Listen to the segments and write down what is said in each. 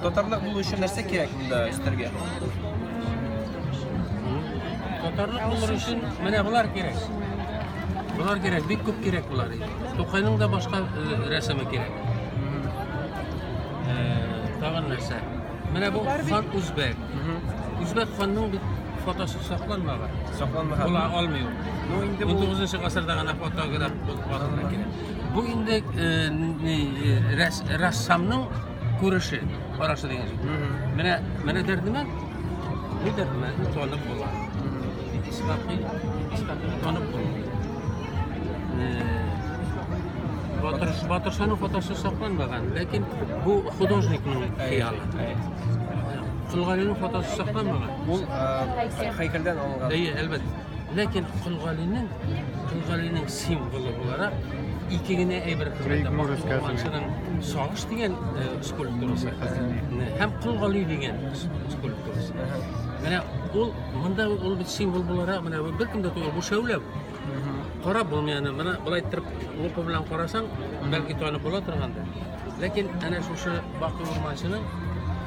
Татарлык булу өчен нәрсә кирәк монда өстәргә? Татарлык булыр өчен менә болар кирәк. Болар кирәк, бик күп кирәк болар. Тукайның да башка э, рәсеме кирәк. Э, Тагын нәрсә? Менә бу хан үзбәк. Үзбәк ханның бит фотосы сакланмаган. Сакланмаган. Була алмый ул. Ну инде бу 19 гасырда гына фотограф булып калган кирәк. Бу инде рәссамның күреше, карашы дигән сүз. Менә менә дәрдемә, бу дәрдемә танып була. Исмакый, Исмакый танып була. Батыр, Батыршаның фотосы сакланмаган, ләкин бу художникның хыялы. Сулгалинең фотосы сакланмаган. Ул һәйкәлдән алынган. Әйе, әлбәттә. Ләкин Кулгалинең, Кулгалинең символы буларак ике генә әйбер күрсәтә. Мактубулманчының сагыш дигән э, скульптурасы һәм Кулгали дигән скульптурасы. Менә ул монда ул бит символ буларак менә бер кем дә түгел, бу шәүлә. Карап булмыйаны, менә былай торып лупа белән карасаң, бәлки танып була торгандыр. Ләкин әнә шушы Баку Урманчының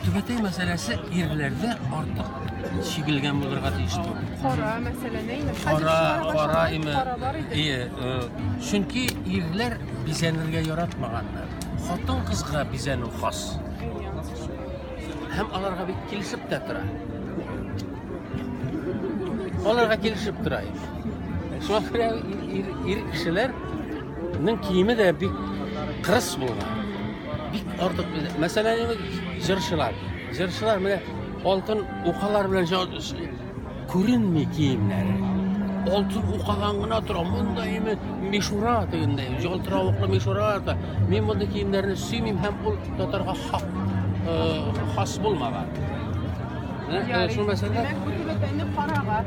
Түбәтәй мәсьәләсе ирләрдә артык чигелгән булырга тиеш түгел. Кара мәсьәлә нәйме? Кара, кара име? Ие, э, чөнки ирләр бизәнергә яратмаганнар. Хатын кызга бизәнү хас. Һәм аларга бик килешеп тә тора. Аларга килешеп тора. Шуңа күрә ир, ир кешеләр Ның киеме дә бик кырыс булган. Бик артык. Мәсәлән, җырчылар. Җырчылар менә алтын укалар белән күренми киемнәре. Алтын укадан гына тора. Монда име мишура дигәндәй, җалтыравыклы мишура да. Мин мондый киемнәрне сөймим һәм ул татарга хак хас булмаган. Шул мәсәлә. Димәк, бу тибетләрне карага.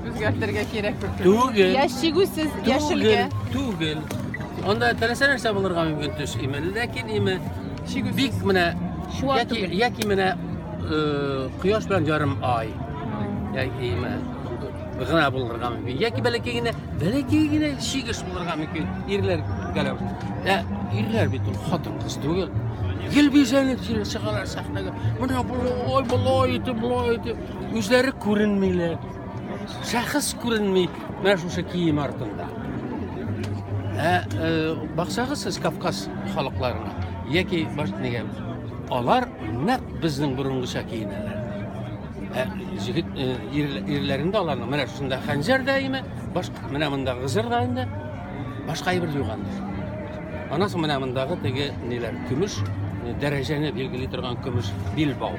Үзгәртергә кирәк бит. Түгел. Яшь чигүсез яшелгә. Түгел. Анда теләсә нәрсә булырга мөмкин төс име, ләкин име чигүсез. Бик менә яки яки менә э, кояш белән ярым ай. Яки име гына булырга мөмкин. Яки бәләкәй генә, бәләкәй генә чигеш булырга мөмкин. Ирләр гәләп. Ә ирләр бит ул хатын кыз түгел. Гел бизәнеп чыгалар сәхнәгә. Менә болай, болай итеп, болай итеп. үзләре күренмиләр. Шәхес күренми менә шушы кием артында. Ә э, баксагыз сез Кавказ халыкларына яки баш нигә алар нәкъ безнең борынгыча киенәләр. Ә җигит э, ирләрендә аларның менә шунда хәнҗәр даими, баш менә монда гызыр да инде. Башка әйбер юк анда. Анасы менә мондагы теге ниләр, көмеш дәрәҗәне билгели торган көмеш билбау.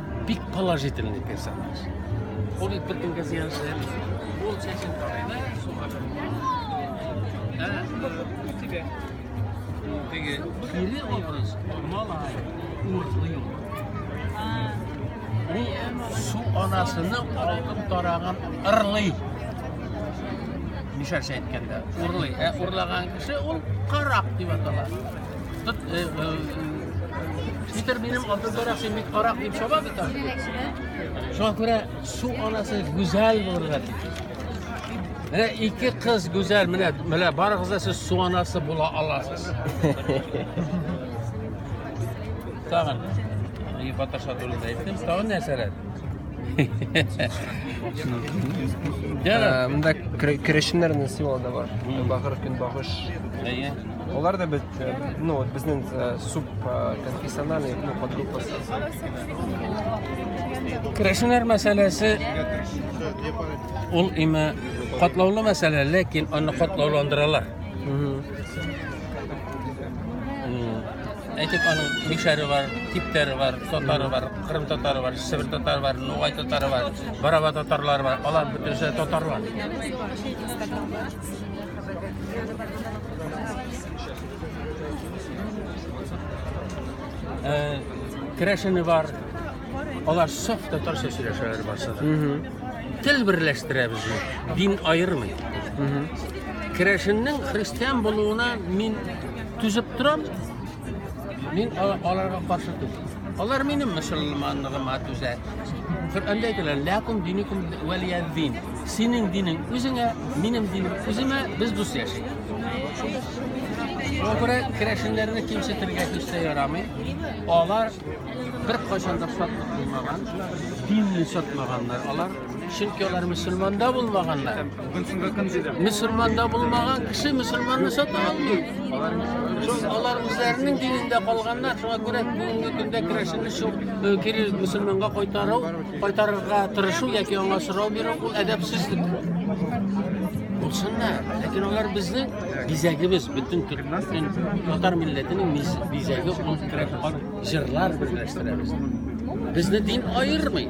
Бик положительный персонаж. Ул бит бөтенгә зыянсыз. Ул чәчен карыйда, суга чөмерә. Теге кире образ малай, урыслы юк. Ул су анасыны алып тараган ырлый. Мишәрчә әйткәндә, урлый. Ә урлаган кеше ул карак дип атала. Питер минем алтын тарак, син бит карак дип шаба бит. Шуңа күрә су анасы гүзәл булырга тиеш. Менә ике кыз гүзәл, менә менә барыгыз да сез су анасы була аласыз. Тагын. Ие баташа турында әйттем. Тагын нәрсәләр? Мында керешеннәр нәрсә алда бар. Бахыр көн багыш. Әйе. Алар да бит, ну, вот безнең субконфессиональный, ну, подгруппа. Керәшеннәр мәсьәләсе ул име катлаулы мәсьәлә, ләкин аны катлауландыралар. Әйтеп аның мишәре бар, типтәре бар, татары бар, кырым татары бар, сибир татары бар, нугай татары бар, бараба татарлары бар, алар бөтенесе татарлар. Э, Керәшене бар. Алар саф татарча сөйләшәләр барса да. Тел берләштерә безне. Дин аермый. Керәшеннең христиан булуына мин түзеп торам, Мин аларга каршы түгел. Алар минем мөселманлыгыма түзә. Коръәндә әйтелгән, "Ләкум диникум вәлия дин". Синең динең үзеңә, минем динем үземә, без дус яшик. Шуңа күрә керәшеннәрне кимсетергә һич тә ярамый. Алар бер кайчан да сатмаган, динне сатмаганнар алар. Чөнки алар мусульманда булмаганнар. Мусульманда булмаган кеше мусульманны сата алмый. Алар үзләренең динендә калганнар, шуңа күрә бүгенге көндә керәшенне шул э, кире мусульманга кайтару, кайтарырга тырышу яки аңа сорау бирү ул әдәпсезлек. Булсыннар, ләкин алар безнең бизәгебез, бөтен төркмән татар милләтенең бизәге ул керәп җырлар берләштерәбез. Безне дин аермый.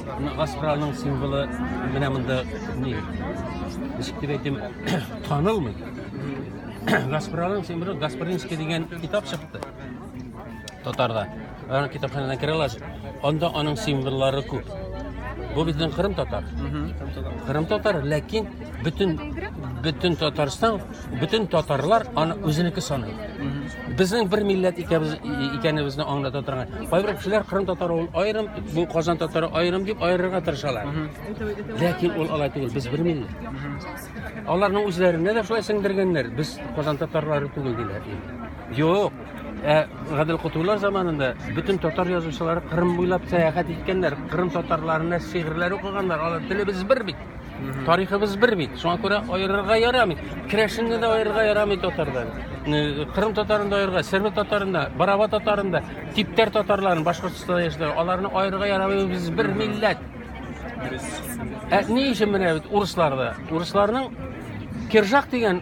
Аспраның символы менә монда ни? Ничек дип әйтим, танылмый. Гаспраның символы Гаспринский дигән китап чыкты. Татарда. Аны китапханәдән керә аласыз. Анда аның символлары күп. Бу безнең Кырым татар. Кырым татар, ләкин бөтен бөтен Татарстан Бөтен татарлар аны үзенеке саный. Безнең бер милләт икәбез икәнебезне аңлата торган. Кайбер кешеләр Кырым татары ул аерым, бу Казан татары аерым дип аерырга тырышалар. Ләкин ул алай түгел, без бер милләт. Аларның үзләренә дә шулай сеңдергәннәр. Без Казан татарлары түгел диләр. Юк, Ә Гадел Кутулар заманында бөтен татар язучылары Кырым буйлап сәяхәт иткәннәр, Кырым татарларына шигырьләр укыганнар, алар телебез бер бит. Тарихыбыз бер бит. Шуңа күрә аерырга ярамый. Керәшенне дә аерырга ярамый татардан. Кырым татарын да аерырга, Серб татарын да, Бараба татарын да, Типтәр татарларын Башкортстанда яшәүче, аларны аерырга ярамый. Без бер милләт. Ә ни өчен менә бит урысларда? Урысларның Киржак дигән